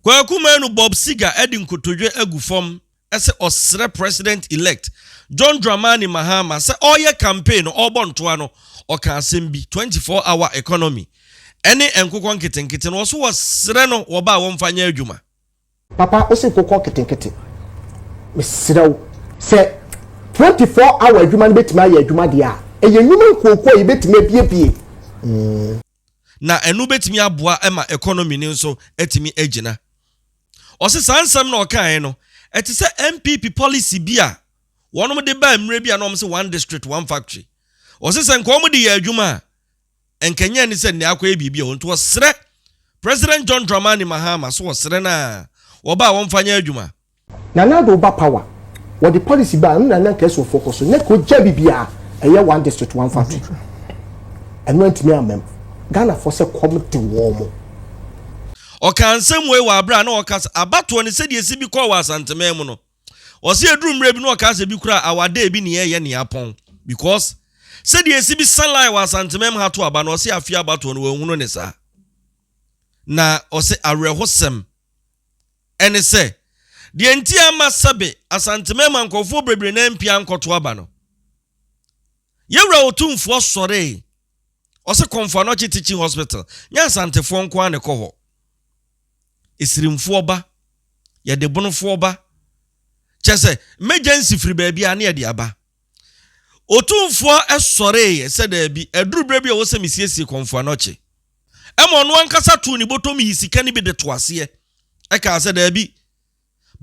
Kwaku Manu Bob Seger de nkotodwe agu fam sɛ ɔsrɛ President-elect John Dramani Mahama sɛ ɔreyɛ campaign no, ɔrebɔ ntoa no, ɔka asɛm bi, 24 hour economy ne nkokɔ nketenkete no, ɔse wɔsrɛ no wɔba a wɔmfa nyɛ adwuma. Papa ose nkokɔ nketenkete, mesrɛ wo, sɛ 24 hour adwuma no bɛtumi ayɛ adwuma deɛ a, ɛyɛ nnwuma nkuokuo a yɛbɛtumi abiebie. na ɛno bɛtumi aboa ma economy no nso atumi agyina. Ɔse saa nsɛm na ɔkaeɛ no, ɛte sɛ NPP policy bi a wɔnom de baa mmerɛ bi a na wɔn se one district, one factory. Ɔse sɛ nka wɔn de yɛ adwuma a, nka nyɛ ne sɛ nnɛ akɔyɛ biribi a ɔnti ɔsrɛ President John Dramani Mahama so ɔsrɛ no a, wɔba a wɔmfa nyɛ adwuma. Nana Addo ba power wɔde policy baa ɛno na na nka ɛsomfoɔ kɔ so na ɛka ogya bibia ɛyɛ one district one factory ɛno antumi ammam Ghana foɔ sɛ kɔm de wɔn. Ɔkaa nsɛm wei wɔ aberɛ a na ɔrekasa abatoɔ ne sɛdeɛ ɛsi bi kɔɔ wɔ Asanteman mu no. Ɔse ɛduru mmerɛ bi na ɔkaa sɛ ebi koraa awada ebi ne ɛyɛ ne apɔn because sɛdeɛ ɛsi bi sa line wɔ Asantemam ha to aba no ɔse afei abatoɔ no wanhunu ne saa na ɔse awerɛhosɛm ɛne sɛ, deɛ nti a ɛmma sɛbe Asanteman mma nkorɔfoɔ bebree nan mpia nkɔto aba no, Yɛwura Otumfoɔ sɔree, ɔse Kɔmfo Anɔkye Teaching Hospital nyɛ Asantefoɔ nko ara na ɛkɔ hɔ. Esirimfoɔ ba, Yɛdebonofoɔ ba, kyerɛ sɛ, mmɛgyansi firi baabiara na yɛde aba. Otumfoɔ sɔreeɛ sɛ, Daabi, aduru berɛ bi a ɛwɔ sɛ mesiesie kɔmfoa no ɔkye. Ɛma ɔno ankasa too ne bɔtɔm yii sika no bi de too aseɛ. Ɛkaa sɛ, Daabi,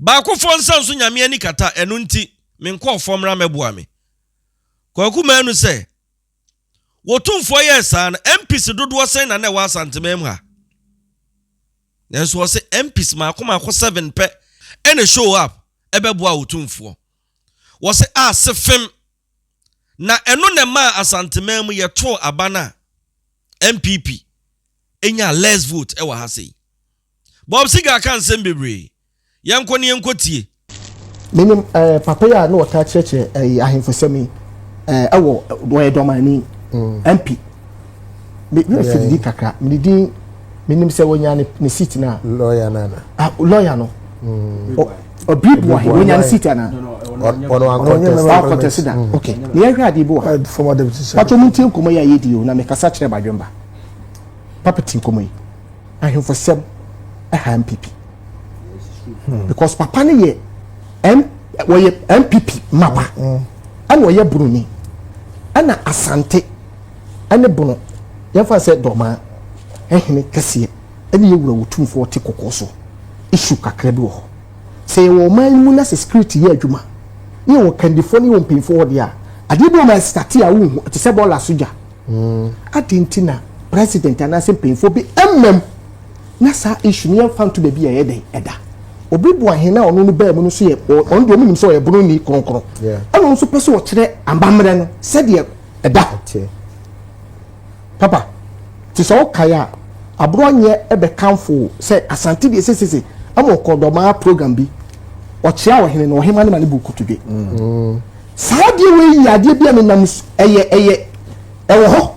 baakofoɔ nsa nso Nyame ani kata, ɛno nti, me nkorɔfoɔ mmra mmɛboa me. Kwaku maa nu sɛ, Otumfoɔ yɛɛ saa no, MPs dodoɔ sɛn na na ɛwɔ Asanteman mu ha? Nanso ɔse, MPs mmaako mmaako seven pɛ na show up bɛboaa Otumfoɔ. Wɔse a se fem. Na ɛno na ɛmaa Asanteman mu yɛtoo aba no a NPP nyaa less vote ɛwɔ ha sei. Bob Seagull ka nsem bebree. Yɛnkɔ na yɛnkɔ tie. Menim eh, papa yi a na ɔtaa kyerɛkyerɛ eh, ahemfosɛm yi eh, ɛwɔ, ɔyɛ dɔmani, MP. me me fi di kakra me di din me nim sɛ wɔnya ne ne seat na. lɔya na na. ah lɔya no. ɔbiri bu ahi wɔnya ne seat na. ɔno akɔtɛsi da mm. ok ne yɛ hwɛ adi bu ahi. pàtó mu ti nkɔmɔ yi a yɛ di o na mɛ kasa kyerɛ badwemba papa ti nkɔmɔ yi ahemfo sɛm ɛha npp hmm. because papa ne yɛ m wɔyɛ npp mapa ɛna mm. ɔyɛ buroni ɛna asante. ne bono, yɛmfa no sɛ dɔmaa, hene kɛseɛ, ne yɛn wura otumfoɔ ɔte kɔkɔɔ so. Issue kakra bi wɔ hɔ. Sɛ yɛwɔ ɔman no mu na sɛ security yɛ adwuma, na yɛwɔ kandifoɔ ne yɛwɔ mpanyinfoɔ hɔ deɛ a, adeɛ bi wɔ ma ɛstate a wonhu, ɛte sɛ bɔɔla so gya. Adɛn nti na president anaasɛ mpanyinfoɔ bi mmam na saa issue no yɛmfa nto baabi a ɛyɛ dɛn ɛda? Obiboa hene a ɔno no baa mu no nso yɛ, ɔno deɛ wɔnim sɛ ɔyɛ bono ni kronkron, ɛna ɔno nso pɛ sɛ ɔkyerɛ amammerɛ no sɛdeɛ ɛda hɔ teɛ. Papa, te sɛ wokae a, Aborɔnyɛ bɛkamfo wo sɛ Asante deɛ sesese ama ɔkɔɔ dɔmaa program bi, ɔkyea ɔhene na ɔhema ne ma ne bo kotodwe. Mm. Saa adeɛ wei yɛ adeɛ bi a menam ɛyɛ ɛyɛ ɛwɔ hɔ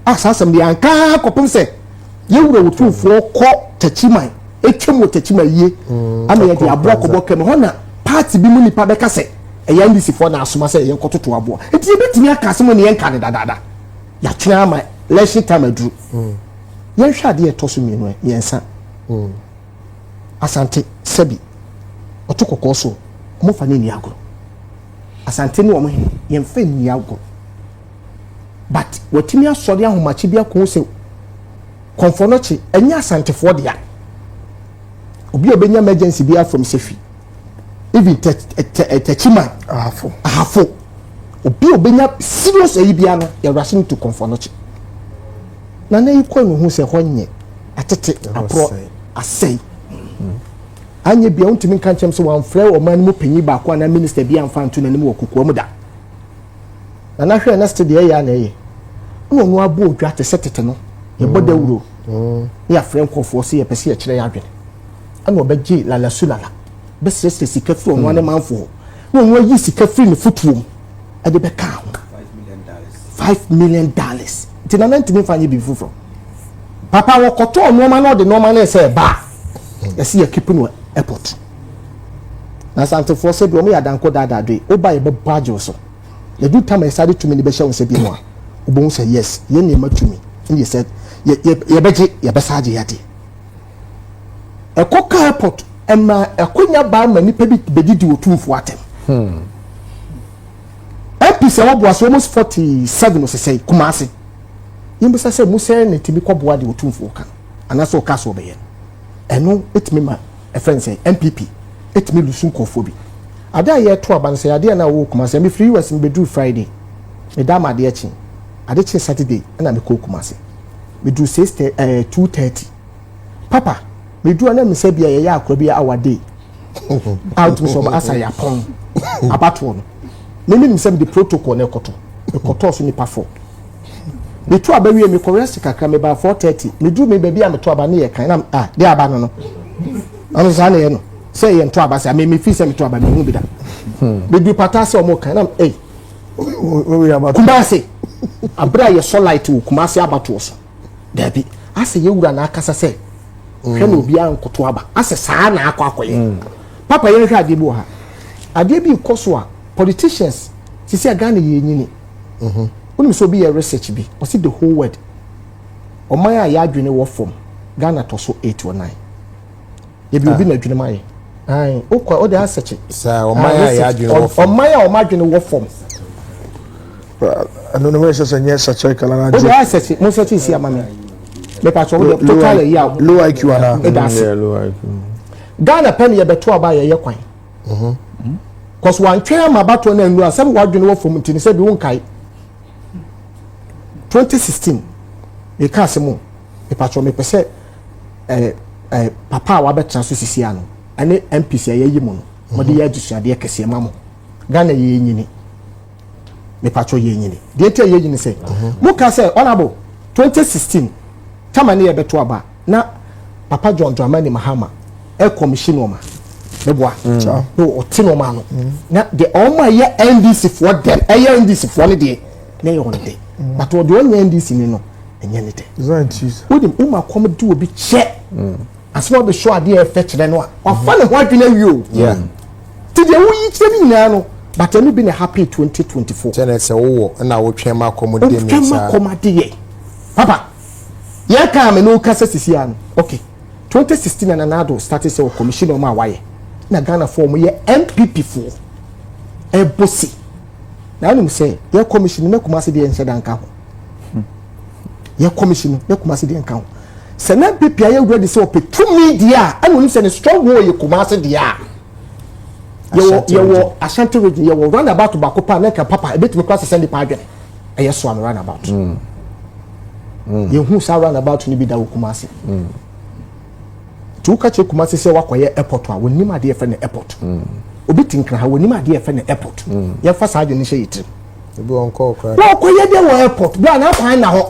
a saa asɛm deɛ ankaa kɔpem sɛ yɛwura wɔ tumfoɔ kɔ takyiman ɛtwam wɔ takyiman yie mm. ama yɛde aboa kɔbɔ kɛmɛ hɔ na paati bi mu nipa bɛka sɛ Ɛyɛ Anglicfoɔ na asoma sɛ yɛnkɔtoto aboɔ, enti yɛbɛtumi aka asɛm a na yɛnka no dadaada. Yɛatwɛn ara ma election time aduru. Yɛnhwɛ adeɛ a ɛtɔ so mmienu ɛ, mmiɛnsa. Asante, sɛbi, ɔto kɔkɔɔ so o, wɔmfa no nni agorɔ. Asante ne wɔn he, yɛmfa nni agorɔ. But wɔatumi asɔre ahomakye bi ako sɛ Kɔmfɔnɔkye nyɛ Asantefoɔ dea. Obi a ɔbɛnya emergency biara from Sefwi, even tɛ tɛ tɛkyima ahafo ahafo obi obenya serious ayi bia no yɛ rushing to kɔnfɔnɔkye na na yi kɔ no ho sɛ hɔ nyɛ atete aporɔ asɛe anyɛ bia wontumi nka nkyɛm sɛ wɔamfrɛ ɔman no mu panyin baako anaa minista bi amfa nto n'anim wɔ kokoa mu da na nahwɛ na sete deɛ ɛyɛ a na ɛyɛ na ɔno abɔ odwa te sɛ tete no yɛbɔ dawuro mm. mm. ne yɛafrɛ nkurɔfoɔ sɛ yɛpɛ sɛ yɛkyerɛ yɛ adwene ɛna ɔbɛgye lala su lala bɛsrɛsrɛ sika firi ɔno ne manfoɔ na ɔno ayi sika firi ne fotuo mu ɛde bɛka ho five million dollars nti nana ntumi nfa nyɛ biribi foforɔ papa wɔkɔtɔɔ nneɛma na ɔde nneɛma no ɛsɛ ɛba ɛsi yɛ keep no airport na santefoɔ sɛ bi wɔn yɛ adanko daadaa do yi woba yɛ bɛbɔ agyew so yɛdu tam a yɛsa de tumi no bɛhyɛ wɔn sɛ bi mu a wobɛhu sɛ yes yɛn nneɛma tumi ɛne yɛ sɛ yɛbɛgye yɛbɛsa agye yɛde ɛkɔ kaa airport ɛna ɛkonya baa ma nipa bi bɛdidi wɔ tumfoɔ atɛm hmm. mps a wɔboa so almost forty seven ɔsesɛe kumase yɛmbisa sɛ mu sɛ na ɛtumi kɔboa deɛ ɔtumfoɔ ka no anaasɛ ɔka so ɔbɛyɛ no ɛno ɛtumi ma ɛfrɛ no sɛ mpp ɛtumi lusu nkɔfoɔ bi adeɛ a yɛto aba no sɛ adeɛ no a wɔwɔ kumase mefiri us mebɛduru friday meda ma adeɛ kye ade kye saturday ɛna mekɔ kumase meduru six eh, two thirty papa medu ana mesa bia yɛyɛ akora bi our day a wotumi sɛ ɔbasa yɛapɔn abatoɔ no menim sɛ mede protocol no ɛkɔtɔ ɛkɔtɔɔ so nipa fɔ metu aba wie mekɔ rest kakra mebaa 430 meduru me baabi a meto aba ne yɛ kan na ah de aba no no ɔno saa na yɛ no sɛ yɛ nto aba sɛ me mefi sɛ meto aba mehu bi da medu pata sɛ ɔmo kan na ei kumase abere a yɛsɔ light wɔ kumase abatoɔ so Dabi, asɛ yɛ wura na akasa sɛ hwɛ na mm. obiara nkoto aba asɛ saa na akɔ akɔyɛ mm. papa yɛn hwɛ adeɛ bi wɔ ha adeɛ bi kɔ so a politicians sisi a ghana yɛ enyini mhm. wonim sɛ obi yɛ research bi ɔsi the whole world ɔman a yɛadwene wɔ fam ghana tɔ so eight or nine. ebi obi na adwene mu ayɛ ae wokɔ wode asɛkye saa ɔman a yɛ adwene wɔ fam ɔman a ɔma adwene wɔ fam ɛno no wɛn sɛ sɛ nyɛ sɛkyɛ kala na wode asɛkye mo sɛkye si ama me mepatwɛ wode total ayi a low iq ana ɛda ase ghana pɛ ne yɛbɛto aba a yɛyɛ kwan kɔs mhm. wantwɛn ama abatoɔ no annu a sɛ wadwene wɔ fam nti ne sɛ bi wonkae 2016 meka ase mu mepatwɛ mepɛ sɛ eh, eh, papa a wabɛtena so sisi ano ɛne MPs a yɛayi mu no mode mhm. yɛ adesuadeɛ kɛseɛ ma mo Ghana yɛnyini mepatwɔ yɛnyini deɛ nti a yɛnyini sɛ mhm. moka sɛ honorable 2016 tama ne yɛbɛto aba na papa John Dramani Mahama ɛkɔmihyi nɔɔma meboa mm. na ɔte nɔɔma no mm. na deɛ ɔma yɛ NDC foɔ dɛm ɛyɛ NDC foɔ no deɛ na ɛyɛ wɔn dɛ mm. but ɔdeɛ ɔnyɛ NDC ni no ɛnyɛ ne dɛ wonim wo ma kɔm de obi kyɛ mm. asɛm a bɛsɔ adeɛ a ɛfɛ kyerɛ no a wafa ne ho adwene awie o nti deɛ woyi kyerɛ no nyinaa no but ɛno bi na happy 2024 kyɛnɛ sɛ wowɔ ɛna wotwɛn ma kɔm de ne saa wotwɛn ma kɔm adeɛ papa yɛn kaa me no kasa sisi ano okay 2016 na nanado start sɛ wɔ commission ɔmo a wayɛ na ghana fo ɔmo yɛ npp fo ɛbosi na anum sɛ yɛ commission ne kumase deɛ nhyɛ danka ho hmm. yɛ kɔmisi no na kumase deɛ nka ho sɛ na npp ayɛ wura de sɛ ɔpɛ tumi deɛ a ɛna onim sɛ ne strong hole yɛ kumase deɛ a yɛwɔ yɛwɔ ashanti region yɛwɔ round about baako paa na nka papa ebetumi kora sɛsɛ nipa adwene ɛyɛ so ano round about hmm. Hmm. yɛhu saa round about no bi da wɔ kumase. nti woka kyerɛ kumase sɛ wakɔyɛ airport a wɔnim adeɛ yɛfrɛ no airport mm. obi te nkra ha wɔnim adeɛ yɛfrɛ no airport mm. yɛmfa saa adwene hyɛ yɛ tirim wɔkɔyɛ deɛ wɔ airport berɛ a na akwan na hɔ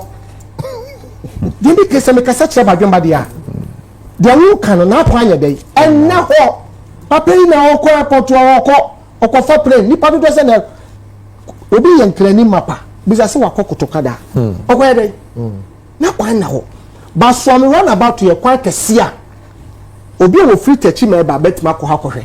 deɛ bi pɛ sɛ mekasa kyerɛ badwemba deɛ a deɛ woka no na akwan yɛ dɛn ɛnna hɔ papa yi na ɔkɔ airport a ɔkɔ ɔkɔfa plane nipa dodoɔ sɛ na obi yɛ nkrani mapa bisa sɛ wakɔ kotoka da ɔkɔyɛ dɛn Na kwan na hɔ. Basuame runabout yɛ kwan kɛse a obi a wɔfiri Takyi ma ɛba bɛtumi akɔ hɔ akɔhwɛ.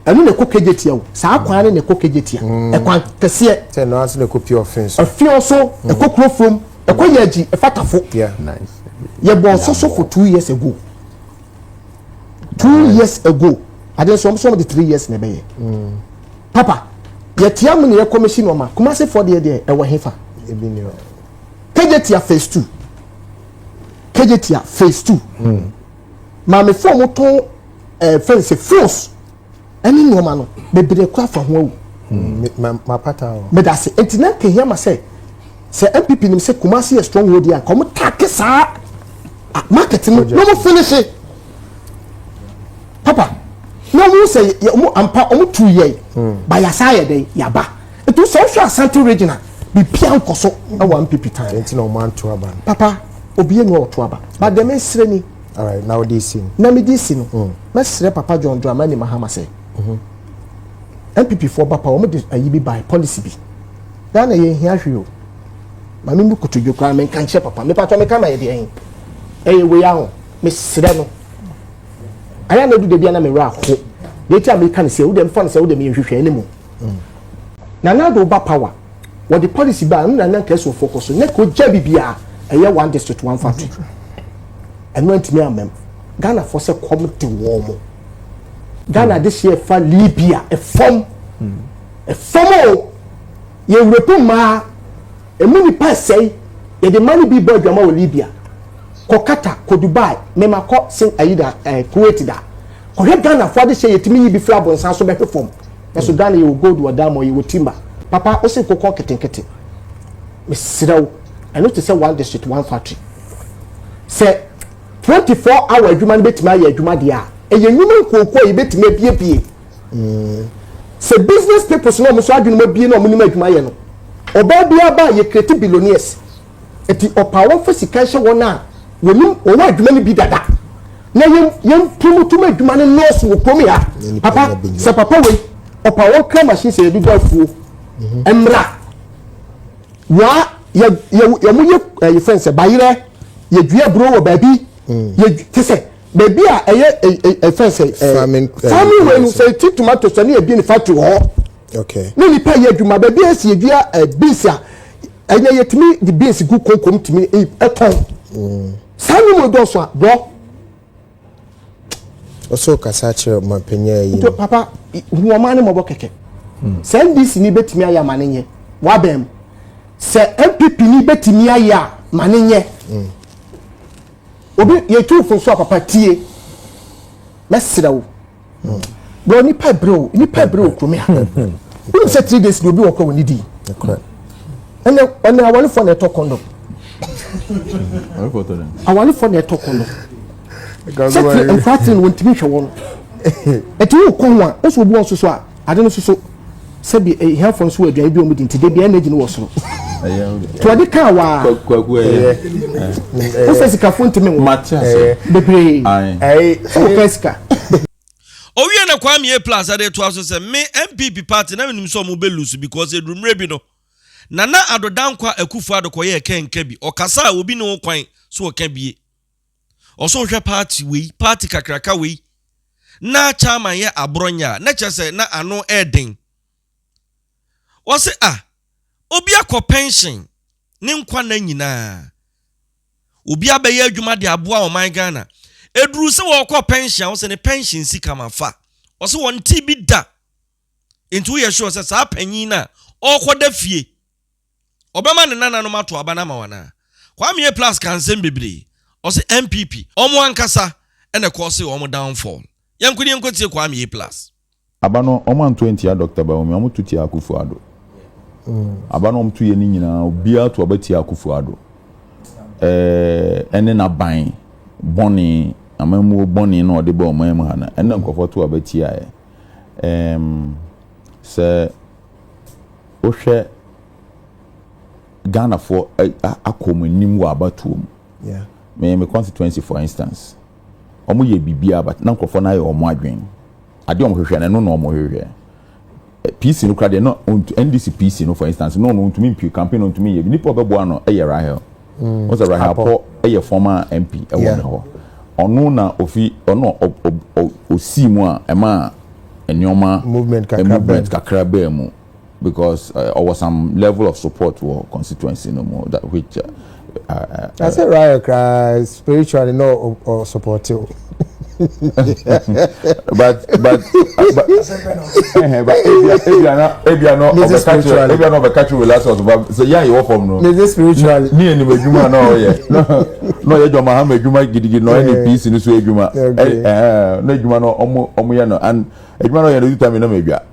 Ɛno na ɛkɔ Kejetia o. Saa kwan no na ɛkɔ Kejetia. Ɛkwan kɛseɛ. Sɛ ɛno ara nso na ɛkɔ Pure Ɔfen so. Ɔfen so, ɛkɔ Kurofurom, ɛkɔ Yagyi, ɛfa Tafo. Yɛbɔɔ nso so for two years ago. Two years ago. Ade nso wɔn nso wɔn de three years na ɛbɛyɛ. Papa, yɛtia mo ne yɛ kɔmɛsi nɔɔma, Kumasi foɔ deɛ deɛ ɛwɔ he fa? Kegyetia phase two. Kegyetia phase two. Hmm. Maame foɔ mo tɔn ɛɛ eh, fɛnsɛ froos ɛne nɔɔma no bebree kura fa ho awu. Hmm. Ma pata o. Medase eti na nkehia ma sɛ sɛ NPP nim sɛ Kumasi yɛ stronghold yɛ a nkɔmɔ taake saa market no na mo finish. papa na ɔmo sɛ yɛ ɔmo ampa ɔmo tu yɛ hmm. ba yasa yɛ dɛ yaba etu sɛ ɔhwɛ asante region a bibia nkɔ so ɛwɔ npp tan ɛnti na ɔmo anto aba no papa obi enu ɔto aba ba dɛm esere ni alright na ɔde esi no na mi di esi no hmm. mɛsrɛ papa john dramani mahama sɛ npp mhm. foɔ ba pa ɔmo de ayi bi by policy bi ghana yɛ nhia hwee o maame mi kutu dwekura mi nka nkyɛn papa mi patɔ mi ka ma yɛ deɛ ɛyɛ wei ahɔ mi srɛ no. ayɛ na edu dabi na mewura aho na eti a meka ne sɛ wode mfa ne sɛ wode me nhwehwɛ ne mu mm. na na do ba power wɔde policy ba ɛno na na nka ɛsofo kɔ so na ka ogya bibia ɛyɛ one district one factory ɛno antumi amam ghana fo sɛ kɔm de wɔn mo ghana de hyɛ ɛfa libya ɛfam ɛfam o yɛwura pu mmaa. Emu nnipa resɛe. Yɛde mma no bi bɔɔ adwamma wɔ Libya. Kɔ Qatar, kɔ Dubai. Mema kɔ Sing ayi da, eh, Kuwait da. Kɔhwɛ Ghanafoɔ adehyeɛ yɛtumi yi bi firi abonsan so bɛhwe fam. Nanso Ghana yɛwɔ gold wɔ diamond, yɛwɔ timber. Papa, wose kokɔ nketenkete. Mesrɛ wo, ɛno te sɛ one district, one factory. Sɛ 24 hour adwuma no bɛtumi ayɛ adwuma deɛ a, ɛyɛ nnwuma nkuokuo a yɛbɛtumi abuebue. Sɛ business peoples na wɔn nso adwene mu abie na wɔn nim adwuma yɛ no, ɔbaa biara ba a yɛ create billionaires. Eti ɔpaa wɔn fa sika nhyɛ wɔn a wɔnim wɔwɔ adwuma no bi dada na yɛn yɛn promotum adwuma no nɔɔso wɔ kurom ha. Papa sɛ papa wei ɔpaa wɔn kra machine sɛ yɛde bɔ afuo mmra waa yɛ yɛ wɔn yɛ ɛyɛ fɛn sɛ bayerɛ yɛ dua aburo wɔ baabi yɛ te sɛ. Baabi a ɛyɛ ɛfɛ sɛ farming farming wei no sɛ ti tomato sɛ ne ebi ne factory hɔ okay ne nipa yɛ adwuma baabi a esi edua beans a ɛnyɛ yɛtumi de beans gu konko mu tumi ɛtɔn saa ne mu dɔɔso a brɔ. ɔsɔ kasa kyerɛ ɔmanpanyin yi. nti papa hu ɔman ne mɔbɔ kɛkɛ sɛ ndc ni betumi ayɛ ama ne nyɛ wabɛn mu sɛ npp ni betumi ayɛ a ma ne nyɛ. Obi yɛtu fo so a papa tie mɛsrɛ wo bro nipa bere o nipa bere o kuromea wonim sɛ three days de obi wɔ kora wɔ ne di ɛnɛ ɛnɛ awalefoɔ na ɛtɔ kɔndɔm awalefoɔ na ɛtɔ kɔndɔm sɛ tiri nkura tiri no wɔntumi hwɛ wɔn ɛti wo kɔn a wosɔ obi wɔn soso a Ade no soso sɛ bi ahiafoɔ nso wɔ aduane bi a wɔn di nti de bi energy no wɔ soro. To ɔde kaa waa. Kwaku ɛyɛ. Wosɛ sikafo ntumi nwo. Mate ase. Bebree. Sɛ wɔka sika. Owie na Kwame A Plus ɛde toa so sɛ, Me NPP party na menim sɛ wɔn bɛ lose because ɛduru mmerɛ bi no, Nana Addo Dankwa Akufo-Addo kɔyɛɛ kɛnka bi, ɔkasa a obi ne wo kwan so ɔka bie. Ɔsɛ ɔhwɛ party wei, party kakraka wei. Na Chairman yɛ aborɔnyɛ a, na kyerɛ sɛ na ano ɛɛden. Ɔse ah, obi akɔ pension ne nkwa nna nyinaa. Obi abɛyɛ adwuma de aboa ɔman Ghana. Ɛduru sɛ ɔɔkɔ pension a, ɔse ne pension sika ma fa. Ɔse ɔntee bi da. Nti woyɛ sure sɛ saa panyin no a ɔɔkɔda fie. ɔbɛma ne nananom ato aba no ama wo anaa? Kwame A plus ka nsɛm bebree, ɔse NPP, ɔmo ankasa na ɛkɔɔsee ɔmo downfall. Yɛnko ne yɛnkɔ tie Kwame A plus. Aba no ɔmo anto antia Doctor Bawumia ɔmo to tia Akufo Addo aba no ɔmo to yɛ ne nyinaa obiaa to aba tia Akufo Addo ɛne naban bɔne amammuo bɔne na ɔde ba ɔman mu ha no ɛna nkurɔfoɔ to aba tiaɛ ɛɛm sɛ Wohwɛ Ghanafoɔ akɔ wɔn anim wɔ abatoɔ mu. Me me constituency for instance, wɔn yɛ biribiara but na nkurɔfoɔ no ayɛ wɔn adwene. Adeɛ wɔn hwehwɛ no ɛno na wɔn hwehwɛ. PC no kora deɛ no NDC PC no for instance no no ntumi mpie campaign no ntumi yɛ bi nipa ɔbɛboa no yɛ Rahel. Mm, What's right Apo yɛ former MP ɛwɔ yeah. me hɔ. Ɔno na ofi ɔno osii mu a ɛma nneɛma movement kakra movement kakra bɛɛ mu because uh, or was some level of support wɔ constituency no mu that which uh, uh, uh, I said right across spiritually no or support you. but but ebia na ɔbɛka kyerɛ relax ɔso ba sɛ yɛ a yɛwɔ fam no ne anim adwuma na ɔyɛ na ɔyɛ dwama ha ma adwuma gidigidi na ɔyɛ ne piece no so adwuma na adwuma no ɔmo yɛ no and adwuma no ɔyɛ no ɔdi tam na ma adwa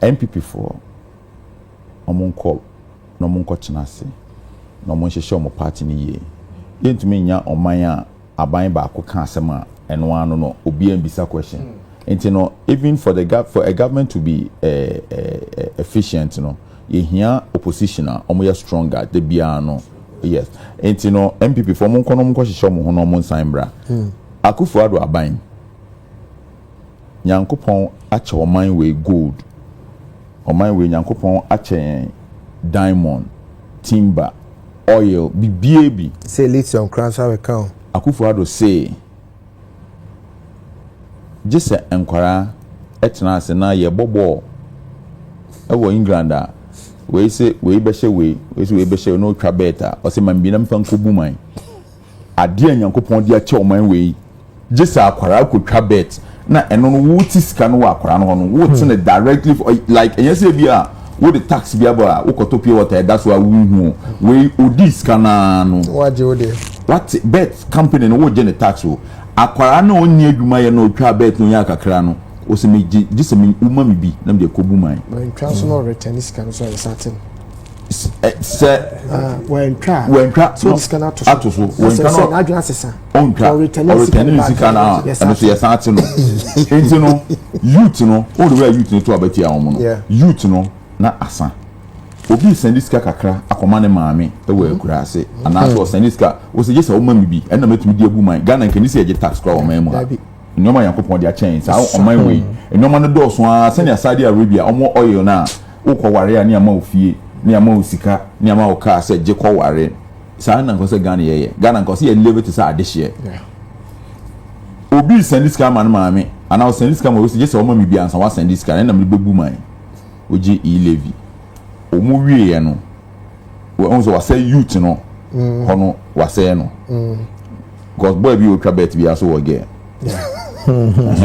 NPP foɔ ɔmo nkɔ na ɔmo nkɔ tena ase na ɔmo nhyehyɛ ɔmo party no yie. Yɛntumi nnya ɔman a aban baako ka asɛm a ɛno ara no no obiara mbisa question. Nti no even for the gov for a government to be efficient no yɛhia opposition a ɔmo yɛ stronger da biara no yes. Nti no NPP foɔ ɔmo nkɔ na ɔmo nkɔ hyehyɛ ɔmo ho na ɔmo nsan mbra. Akufo Addo aban. Nyankopɔn akyɛ ɔman wei gold, ɔman wei Nyankopɔn akyɛ yɛn diamond, timber, oil, bibiaa bi. Say lithium koraa nso abɛka o. Akufo Addo say gye sɛ nkwadaa tena ase na yɛbɔ bɔɔl wɔ England a wei se wei bɛhyɛ wei, wei se wei bɛhyɛ wei na ɔtwa bet a ɔse ma me bi na memfa nkɔbu man. Adeɛ a Nyankopɔn de akyɛ ɔman wei. Gye sɛ akwadaa kɔ twa bet na ɛno no wo te sika no wɔ akwadaa no hɔ no wo te no directly for like ɛnyɛ sɛ ebi a wo de tax bi aba a wo kɔtɔ pure water ɛda so a wo hu o wei odi sika no ara no wagye wo deɛ wate bet company no wo gye ne tax o akwadaa no a ɔnni adwuma yɛ na ɔtwa bet no ɔnya kakra no o sɛ me gye gye sɛ me wo ma me bi na me de kɔ bu man. mantwa so na ɔretɛne sika no so ɛnsate no. sɛ wantwa wantwa no ato so wantwa no n'adwene asesa ɔntwa ɔretɛn ne sika no a ɛno so yɛsan ate no nti no youth no wɔn de wura youth no to abatia wɔn no youth no na asa obi sɛnde sika kakra akɔma ne maame wɔ mm-hmm. akura ase mm-hmm. anaasɛ ɔsɛnde sika wɔsɛ gye sɛ wɔma mi bi ɛna mɛtumi di abu man ghana nkɛni sɛ yɛgye tax kora wɔn man mu ha Nneɛma a Nyankopɔn de akyɛn saa ɔman wei, nneɛma no dɔɔso ara sɛnea Saudi Arabia, wɔn oil no a wokɔware a ne yɛama wo fie, ne yɛama wo sika, ne yɛama wo car sɛ gye kɔware. Saa ara na nka ɔsɛ Ghana yɛyɛ. Ghana nka ɔsɛ yɛ live te sɛ adehyeɛ. Obi resɛnde sika ama ne maame anaa ɔsɛnde sika ma obi sɛ gye sɛ ɔma me bi ansa wasɛnde sika no ɛna mede bɛbu man. Wogye e-levy. Wɔwieeɛ no. wɔn sɛ wasɛe youth no mm. hɔ no wasɛe no mm. because boy bi otwa bet bi aso wɔ girl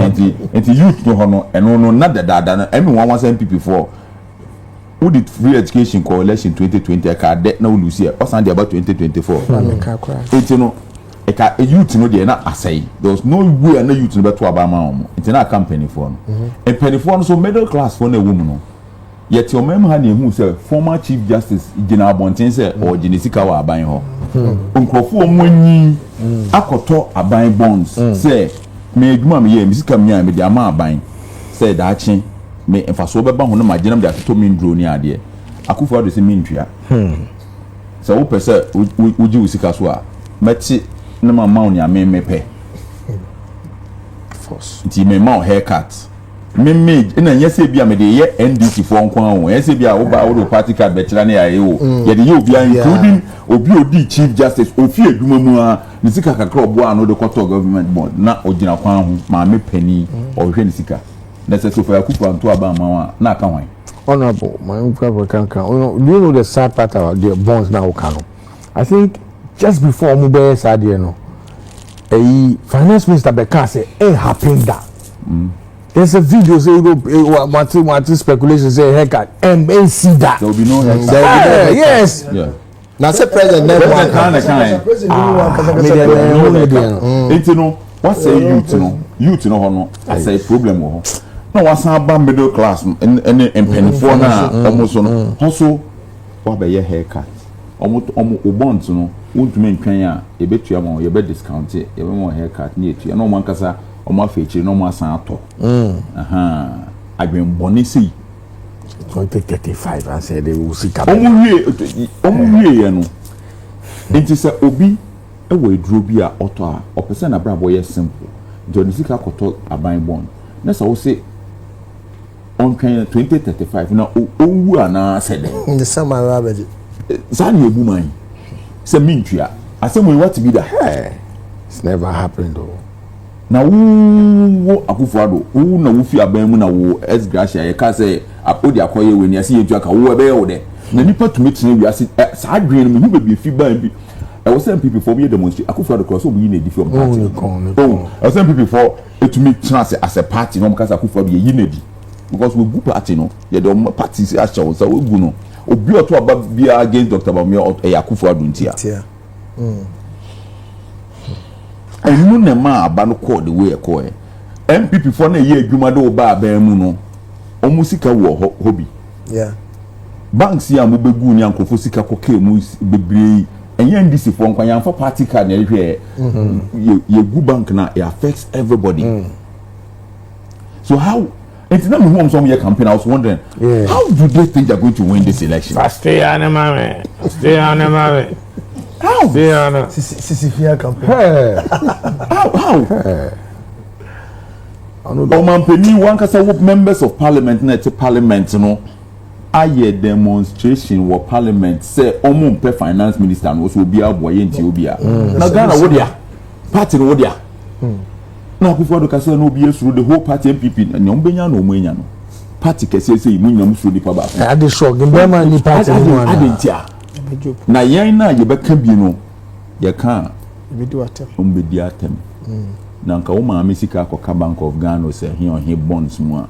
nti nti youth no hɔ no ɛno no na dadaada no ɛmi wɔn wasɛn pipi fɔ wodi free education kɔ election twenty twenty ɛka dɛ na olusi ɛ ɔsan de aba twenty twenty four nti no ɛka e youth no deɛ na asɛe there was no way na youth no bɛto aba ama wɔn nti na aka mpanimfoɔ no mpanimfoɔ no so middle class foɔ na ɛwɔ mu no. Yɛte ɔman mu ha na yɛhu sɛ former chief justice gyina abɔnten sɛ ɔregye ne sika wɔ aban hɔ. Hmm. Nkurɔfoɔ wɔn anyi hmm. akɔtɔ aban bonds hmm. sɛ me adwuma a meyɛ me sika menyaa mede ama aban sɛ daakye me mfasoɔ bɛba ho no ma gyina mede atotɔ me nduro ne adeɛ. Akufo ado sɛ mentua. Sɛ wopɛ sɛ wogye wo sika so a mɛte na mama wo nea memepɛ. Nti mema wo haircut. Me me na ɛnyɛ sɛ ebi a mede yɛ NDC foɔ nko ara o ɛyɛ sɛ ebi a woba wode wo party card bɛkyerɛ ne ayɛ o mm. yɛde yɛ obiara including obi a odi chief justice ofi adwuma mu a ne sika kakra ɔboa ano de kɔtɔ government bond na ogyina kwan ho maame panin mm. ɔhwɛ ne sika na sɛ sofa akufu anto aba ama wa na aka hwan. honourable maa n kura kura kankan do you know the sad part about the bonds na ɔka no i think just before ɔmo bɛyɛ saa deɛ no ɛyi finance minister bɛka sɛ ɛn happen da. There's a video say you know eh, wa- wate wate speculation say haircut ɛm ɛnsi da. There will be no haircut. There will be no Eh, haircut. yes. Yeah. na sɛ president na ɛmu President aka na na kan. President ni wɔn ankasa Me kasa deɛ kura. na ɛho ne deɛ no. Nti no, wasɛe youth no, youth no hɔ no, asɛe problem wɔ hɔ. Na wasan aba middle class no, ɛne ɛne mpanimfoɔ no a wɔn so no, hɔ so wabɛyɛ haircut. Wɔn wɔn o bonds no, wontumi ntwɛn a, yɛbɛtua ma wɔn, yɛbɛ discount, yɛbɛma wɔn haircut ne yɛtua. Na wɔn ankasa Wɔn afa akyire na wɔn asan atɔ. Adwene bɔne sei. Twenty thirty five ansa de wo sika. Wɔn wie wɔn wie yɛ no. Nti sɛ obi wɔ aduro bi a ɔtɔ a ɔpɛ sɛ n'abrabɔ yɛ simple nti ɔde sika kɔtɔ aban bɔn na sɛ wose ɔntwɛn twenty thirty five na ɔnwu anaa sɛ dɛ. Ne sɛ maa ara bɛgye. Saa na ebu man sɛ mentua asɛm yi wate bi da. It's never happened o. Oh. Na wo wo Akuffo Addo wo na wo fi aban mu na wo S Gracia yɛ kaa sɛ wo de akɔ yɛ wei ne yɛse yɛntua ka wo ɛbɛ yɛ wo dɛ na nipa tumi tena wiase ɛ saa adwene no me hu baabi efi baa bi ɛwɔ sɛ NPP foɔ ɔmo yɛ demonstration Akuffo Addo koraa sɛ ɔmo yi no adi fi ɔmo party no ho oh ɛwɔ sɛ NPP foɔ etumi tena ase as a party na ɔmo ka sɛ Akuffo Addo yɛyi no adi because wegu party no yɛde ɔmo party ahyɛ wo nsa wegu no obi ɔto aba biara against Doctor Bawumia ɔt ɛyɛ Akuffo Addo ntia. Ɛno na ɛmaa aba no kɔɔ the way ɛkɔɔɛ. NPP foɔ na ɛyɛ adwuma de wo ba aban mu no, wɔn sika wɔ hɔ, hɔ bi. Yeah. Banks yi a mobɛgu ne ankorɔfoɔ sika kɔkɛɛ mu bebree yi, ɛnyɛ NDC foɔ nkwa, yɛamfa party card na ɛhwɛɛ. Mm-hmm. Yɛgu bank na it affects everybody. Mm. So how Nti na mehu wɔn sɛ wɔyɛ campaign I was wondering yeah. how do they think they are going to win this election. Fasteya ne ma me fasteya ne ma me. How? Fasteya no. Sisi sisi fia campaign. How how? Ọmọmpanin wankasa wo members of parliament na ɛte parliament no ayɛ demonstration wɔ parliament sɛ wɔn mpɛ finance minister no so obiara bɔ yɛ nti obiara. Mm. Na Ghana wo dia party no wo dia. Mm. na akufo ado kasa na obi asuro the whole party npp na nea ɔmbɛnya na ɔmo anya no party kɛseɛ sɛ yi mo nyina mo suro nipa baako eh, ade shock mbɛma ni party no mu ana ade nti a na yɛn na yɛbɛka bi no yɛka a ɔmbɛdi atɛm mm. na nka wo maame sika akɔka bank of ghana sɛ he ɔhe bonds mu a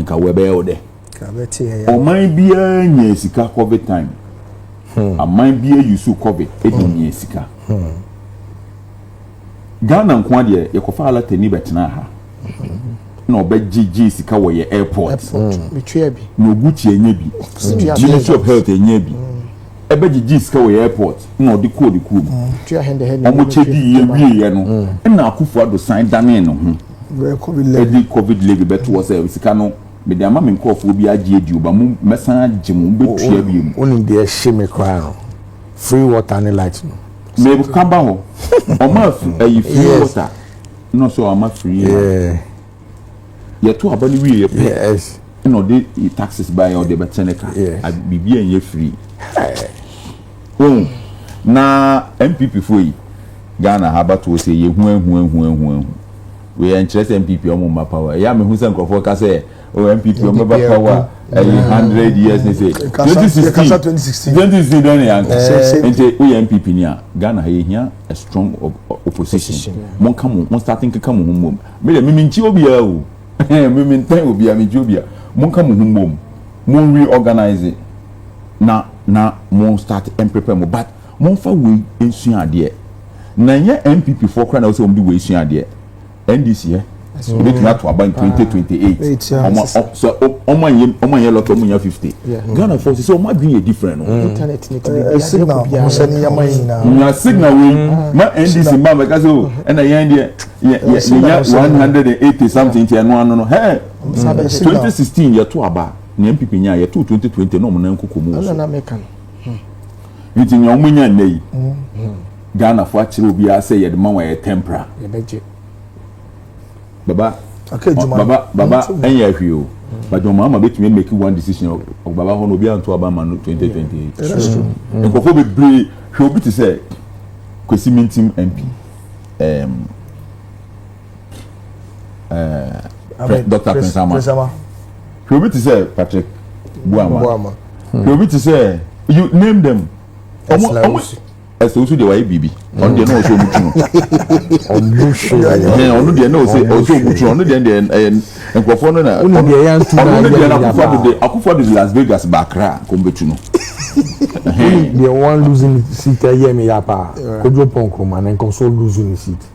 nka wɔbɛyɛ wo dɛ ɔman biara nya sika covid time hmm. aman biara yusu covid ɛdi hmm. nya sika hmm. Ghana nkoa deɛ yɛkɔfaa latani bɛtenaa ha na ɔbɛgye gyee sika wɔ yɛ airport na oguti ɛnyɛ bi ministry of health ɛnyɛ bi ɛbɛgye gyee sika wɔ yɛ airport na ɔde kɔɔ ne kurom ɔmo kyɛ di yɛ wie yɛ no ɛna akufo ado san danee ne ho ɛde covid levy bɛto hɔ sɛ sika no mede ama me nkorɔfoɔ bi agye adi oba mo mɛsan agye mo mobɛtua bi mu. wonim deɛ ɛhye me koraa no free water ne light no Maybe can buy home. Or my food, you feel water. No, so I'm a free. Yeah. You're too about the way you pay. Yes. You know, the taxes by or the Batenica. Yes. I be being you free. Oh, now MPP for you. Ghana ha batoɔ sɛ yɛhu ahu ahu ahu ahu wei ɛnkyerɛ sɛ npp ɔmo mma power ɛyɛ a mehu sɛ nkurɔfoɔ ka sɛ o npp wɔn bɛba power a ɛyɛ hundred years ne sɛ twenty sixteen twenty sixteen dɔn ne yanka nti o yɛ npp ni a ghana ha yɛ hia a strong opposition mo nka mo mo start nkeka mo ho mbom mi dɛ mimi nkyi obiara o mimi ntɛn obiara mi nkyi obiara mo nka mo ho mbom mo n reorganize na na mo start and prepare mo but mo nfa wei nsua adeɛ na nyɛ npp foɔ kora na wɔsɛ wɔn de wei sua adeɛ. ndc ɛ so obetumi ato aba in twenty twenty eight ɔmo sɛ ɔmo anyɛ ɔmo anyɛ lɔtɔ ɔmo nya fifty ghana fɔ sisi ɔmo adwene yɛ different no. internet ne ti bi bi signal ɔmo sɛ ne yɛma yi na. nya signal wei ma ndc mba mɛ kasi o ɛna yɛn deɛ yɛ yɛ nya one hundred and eighty something ti ɛno ano no hɛ twenty sixteen yɛ to aba ne npp nya yɛ to twenty twenty na ɔmo nan koko mu wɔ so nti nea ɔmo nya nnɛ yi. Ghana fo akyerɛ obiara sɛ yɛde ma wɔn ɛyɛ tɛmpra. Yɛbɛgye. Baba baba baba ɛnyɛ hwee o but wɔn ama betumi make one decision ɔ baba hɔ no obi anto aba ma no twenty twenty eight nkurɔfoɔ bebree hwɛ obi te sɛ Kwesi Mintim MP ɛɛm ɛɛ Dr Prince Ama hwɛ obi te sɛ Patrick Buama hwɛ obi te sɛ you name them ɔmo ɔmo. ɛsɛ wosu deɛ wayɛ biribi ɔno deɛ na ɔsɛ ɔmu tu no ɔno deɛ na ɔsɛ ɔsɛ ɔmu tu no ɔno deɛ deɛ ɛyɛ nkurɔfoɔ no na ɔno ne deɛ na akufo ado de akufo ado de Las Vegas ba Accra kɔn bɛtu no deɛ wɔn luzu ne seat ɛyɛ mi ya paa Kojo Pɔn Nkrumah ne nkɔso luzu ne seat.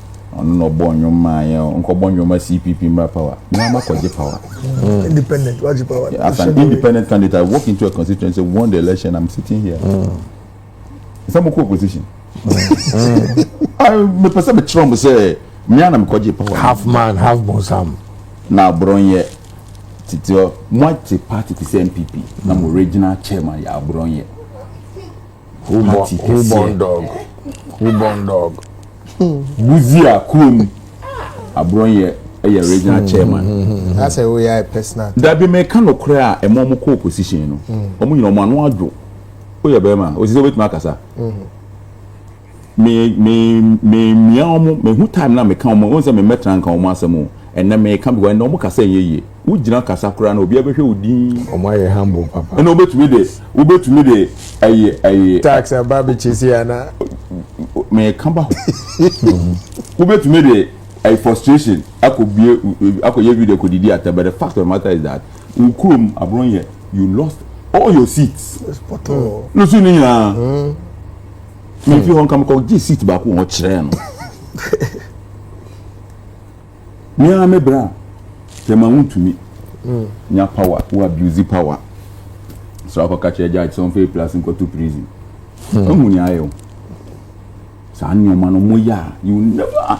Ɔno na ɔbɔ nnwom maa yɛn o. Nkɔbɔ nnwom ma CPP mmra power. Me ara makɔgye power. Independent, wagye power. As an independent candidate, I walk into a constituency, won the election, I'm sitting here. Sɛ mokɔ opposition. Mepɛ sɛ mekyerɛ mo sɛ me ara na mekɔgye power. Half man, half bonsam. Na aborɔnyɛ tete hɔ. Moate party te sɛ NPP na mo regional chairman yɛ aborɔnyɛ. Who born, who born dog? Who born dog? Buzia kurom aborɔnyɛ yɛ regional chairman. Hmm, hmm, hmm, That's a woyɛ personal. Dabi meka no korɛ a ɛma ɔmo kɔ opposition no. Ɔmo nyina ɔmo ano adwo. Woyɛ bɛrima, osisi obetumi akasa. Me me me mia wɔn, mehu time na meka wɔn, wɔn sɛ me mmɛtra nka wɔn asɛm o, ɛnɛ meka because ɛnɛ wɔn kasa nyɛ yie, wo gyina kasa koraa na obiara bɛhwɛ wo dinn. Wɔn ayɛ humble papa. Ɛna wobɛtumi de wobɛtumi de ɛyi ɛyi. Tax aba abɛkyɛ sei anaa. Meka ba hɔ. Wobɛtumi de ɛyi frustration akɔ bie akɔ yɛ video akɔ didi atɛ but the fact of the matter is that wo kurom aboron yɛ you lost all your seats. Yes pɔtɔɔ. Nusu ne nyinaa. Mm. Mìfi hmm. hɔ nka mekɔ gye seat baako wɔ hɔ kyerɛɛ no. Mìa me bra tɛma wuntumi hmm. nya power wo abuse power so akɔka kyerɛ judge sɛ ɔmfa plus nkɔto prison. Ɛhu hmm. ni ayɛ o. Saa nneɛma no mo yɛ a you never.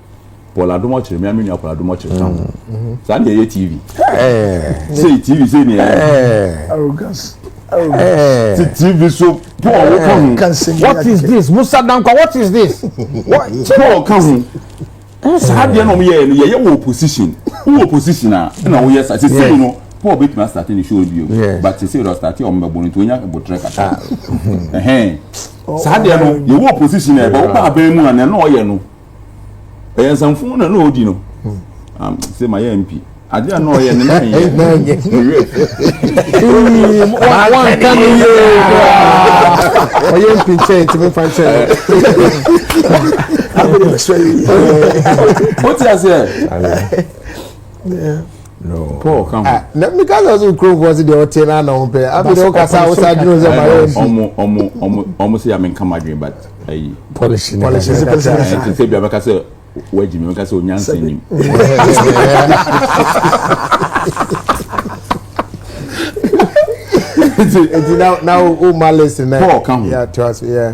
Paul Adomɔkyere mmea me nua Paul Adomɔkyere ka ho saa na ɛyɛ TV sei TV sei na ɛyɛ arrogance ti TV so Paul wo ka ho what is this Musa Dankwa what is this Paul ka ho saa deɛ na wɔn yɛ no yɛyɛ wɔ opposition wɔ opposition a ɛna wɔyɛ sa sisi mu no Paul betumi asate ne show bio but sisi yɛ ɔsate wɔn bɛbɔ no nti wɔnya botere kata ɛhɛn saa deɛ no yɛwɔ opposition a ɛbɛ wɔn ba abɛn mu a na ɛna ɔyɛ no. ɛyɛ nsamfo na na ɔdi no sɛ ma yɛ mpi adeɛ a na ɔyɛ no na ɛnyɛ wanka no yie ɔyɛ mpi nkyɛn nti momfa nkyɛn wote aseɛ paul ka ho. na meka sɛ ɔsɛ kuromfoɔ se deɛ ɔte no ana ho pɛ afei deɛ wokasa a wo saa dwene sɛ mara mp ɔmo sɛ yɛmenka madwene but ayi policy ne ɛnti sɛ bia mɛka sɛ woagyi me mɛka sɛ onyansa nim nti na woma list nɛ paul ka ho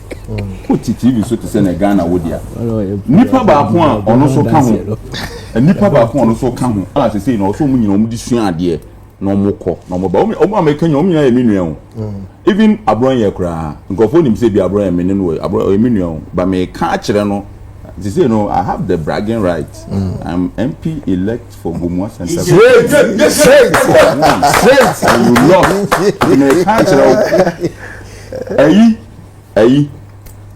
Wote TV so te sɛ nea Ghana wɔ di a, nipa baako a ɔno nso ka ho, nipa baako a ɔno nso ka ho a sese na ɔsɔ wɔn nyinaa wɔn de sua adeɛ na wɔn kɔ na wɔn ba wɔn wɔn a mɛka nyinaa wɔn nyinaa yɛ mi nua o. Mm. Even aborɔn yɛ koraa nkurɔfoɔ nim sɛ bi aborɔn yɛ mi ne no wɔ aborɔn ɔyɛ mi nua o ba mɛ ka akyerɛ no sese no I have the bragging right mm. I'm MP elect for Gomua Central. Straight straight straight. And you lost mɛ ka akyerɛ o ɛyi. ɛyi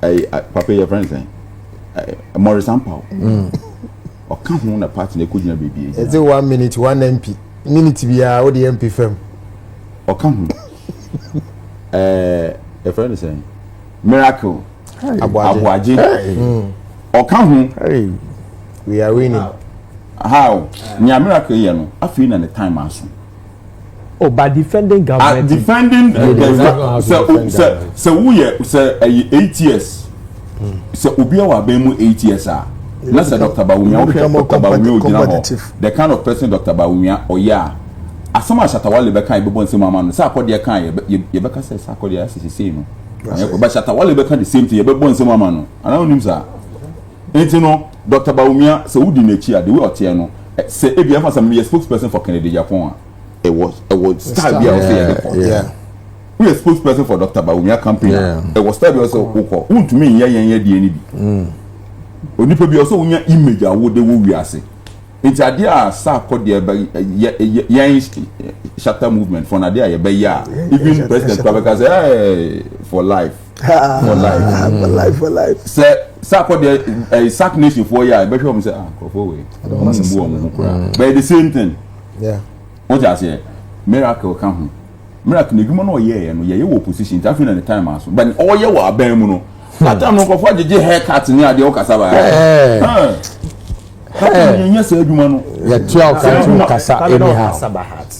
ɛyi papa yɛ fɛn sɛn ɛɛ mɔrisan paw mm. ɔka ho na party na ekogyina beebi yɛ gyina. ɛdze one minute one mp minute biara o de mp fam. ɔka ho ɛɛ ɛfɛn ne sɛn miracle abuagye mm. ɔka ho. we are winning. how nea miracle yɛ no afei na ne time aso. Ọba oh, defending government. Ah, defending uh, the government. Sɛ sɛ sɛ woyɛ sɛ ɛyɛ eight years. Hmm. Sɛ obi a wɔ abɛn mu eight years a. Na sɛ Dr. Bawumia wohwɛ Dr. Bawumia ogyina hɔ. The kind of person Dr. Bawumia ɔyɛ a. Asɛm a Shatawale bɛka ebɛbɔ nsɛm ama no. Sɛ akɔdeɛ kan yɛ yɛbɛka sɛ sɛ akɔdeɛ asɛ sese no. Ɔyɛ kɔ but Shatawale bɛka the same thing yɛbɛbɔ nsɛm ama no. Anaa onim saa. Nti no Doctor Bawumia sɛ wo di n'akyi a the way ɔteɛ no sɛ ebia ɛfa sɛ me yɛ spokes person for Kennedy Agyapong a ɛwɔ ɛwɔ style bi a ɔsɛ yɛde kɔ. Wo yɛ spokes person for Doctor Bawumia campaign a ɛwɔ style bi a ɔsɛ wo kɔ. Wo ntumi nyɛ yɛn yɛ deɛ ni bi. Mm. Onipa bi ɔsɛ wonya image a wo de wo wiase. Nti adeɛ a saa kɔ deɛ bɛ yɛ yɛn shatter movement for na adeɛ a yɛbɛyɛ a even president kura bɛka sɛ ɛɛ for life. sɛ saa kɔ deɛ ɛɛ sac nation foɔ yɛ a ɛbɛhwɛ wɔn sɛ ah nkurɔfoɔ wei wɔn mu bu wɔn ho koraa mm. but the same thing wọ́n ti aseɛ miracle ka ho miracle na edwuma na ɔyɛ yɛ no yɛ yɛ wɔ opposition nti afei na ne time aso but ɔyɛ wɔ abɛn mu no atam no nkurɔfoɔ agyegye hair cut ne adeɛ ɔkasa baa yɛ nyɛ sɛ adwuma no yɛ tia ɔkasa anyhow.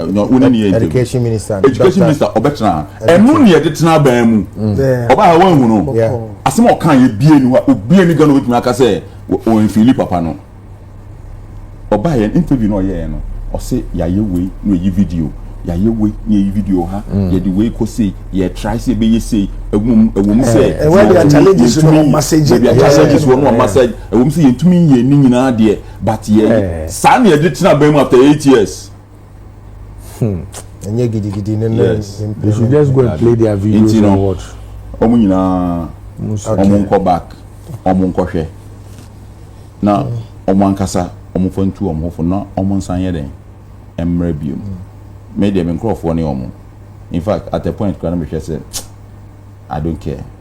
education minister education minister ɔbɛtena ha ɛno ne yɛde tena abɛn mu ɔba ha wɔn ehunu asɛm a ɔka yɛ bie ni hɔ obie ni gana obetumi aka sɛ wɔn nfili papa no ɔba yɛn interview na ɔyɛ yɛn no ɔsɛ yɛayɛ wei na yɛyi video yɛayɛ wei na yɛyi video ha mm. yɛde wei kɔ sei yɛtrae sɛ yɛbɛyɛ sei ɛwom ɛwom sɛ eh, eh, ɛwɔ de challenges wɔ no massage ɛbi challenges wɔ no massage ɛwom sɛ yɛntumi yɛ ne nyinaa deɛ but yɛ eh. saa na yɛde tena bɛn mu after eight years Hmm. Ɛnyɛ gidigidi ne ne mpɛ. They should just go and play their videos and watch. Wɔn nyinaa wɔn nkɔ back wɔn nkɔhwɛ na wɔn ankasa wɔn fa ntu wɔn ho fo na wɔn nsan yɛ dɛn mmerɛ biom. Me deɛ me nkorɔfoɔ ne wɔn. In fact at a point kura na mehwɛ sɛ I don't care.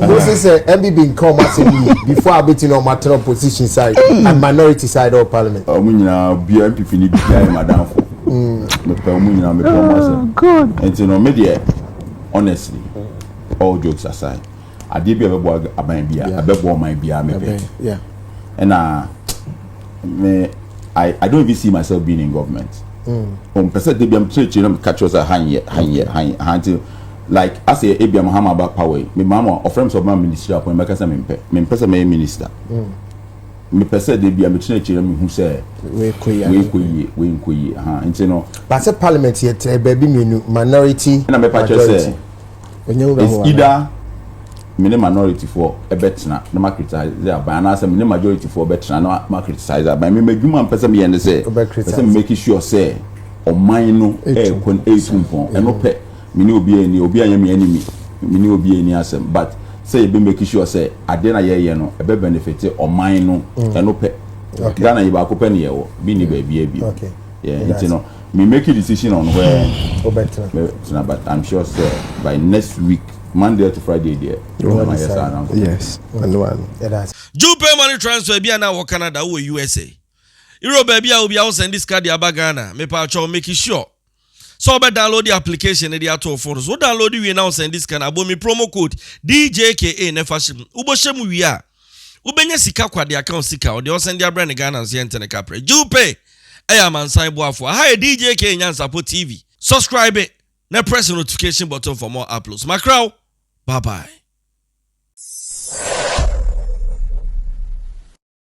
Mo se sɛ MBB nka wɔn asɛm yie before a bɛtumi na wɔn atena opposition side and minority side of parliament. Wɔn nyinaa bia MPP ni bia yɛ madamfo. Mepɛ wɔn nyinaa mepɛ wɔn asɛm. Nti no me deɛ honestly all jokes aside adeɛ bi a ɛbɛboa aban bia ɛbɛboa ɔman bia mepɛ. Ɛna me I, I don't even see myself being in government. Mm. Um, pese de biam church na catch us ha nyɛ ha nyɛ ha nyɛ ha nti Like asɛ ebia Mahama aba power yi, me Mahama ɔfrɛ me sɛ ɔbɛma ministry appoint, mɛka sɛ mempɛ. Mempɛ sɛ mɛyɛ minister. Mepɛ sɛ da bi a metena akyiri na mehu sɛ wei kɔ yie, wei nkɔ yie. Aha, nti no. But sɛ parliament yɛ tɛ baabi mmienu, minority, majority. Ɛna mɛpa kyerɛ sɛ, it's either me ne minority foɔ bɛtena na ma criticize aban anaasɛ me ne majority foɔ bɛtena na ma criticize aban. Me m'adwuma mpɛ sɛ meyɛ ne sɛ, pɛ sɛ me make sure sɛ ɔman no ɛɛkɔ ɛɛtu mpɔn. Ɛno pɛ. Me ne obiara nni, obiara nyɛ me enemy, me ne obiara nni asɛm but sɛ yɛbɛ make sure sɛ adeɛ na yɛyɛ no ɛbɛ benefit ɔman no mm. ɛno pɛ. Okay. Ghana yi baako pɛ ne yɛwɔ, bi ni baabiara bio. Okay. Yeah, nti no, me make a decision on where mɛtena but I'm sure sɛ by next week Monday to Friday deɛ ɛna ma yɛ saa na nkɔ. Yes, ɛno ano. Jew pay money transfer bi a na wɔ Canada wɔ USA. Europe baabi a obi a wosɛn de sika de aba Ghana, mepɛ atwɔ make sure sɛ wobɛ download application no de ato wo phone so wo download wie na wo send sika no abɔ mi promo code DJKA na ɛfa hyɛ mu wobɔhyɛ mu wie a wobɛnya sika kwa de aka wo sika ɔde ɔsɛn de abrɛ ne Ghana nso yɛnte ne kaprɛ Jew Pay ɛyɛ amansan boafoɔ aha yɛ DJKA Nyansapɔ TV subscribe na press the notification button for more uploads makra wo bye bye.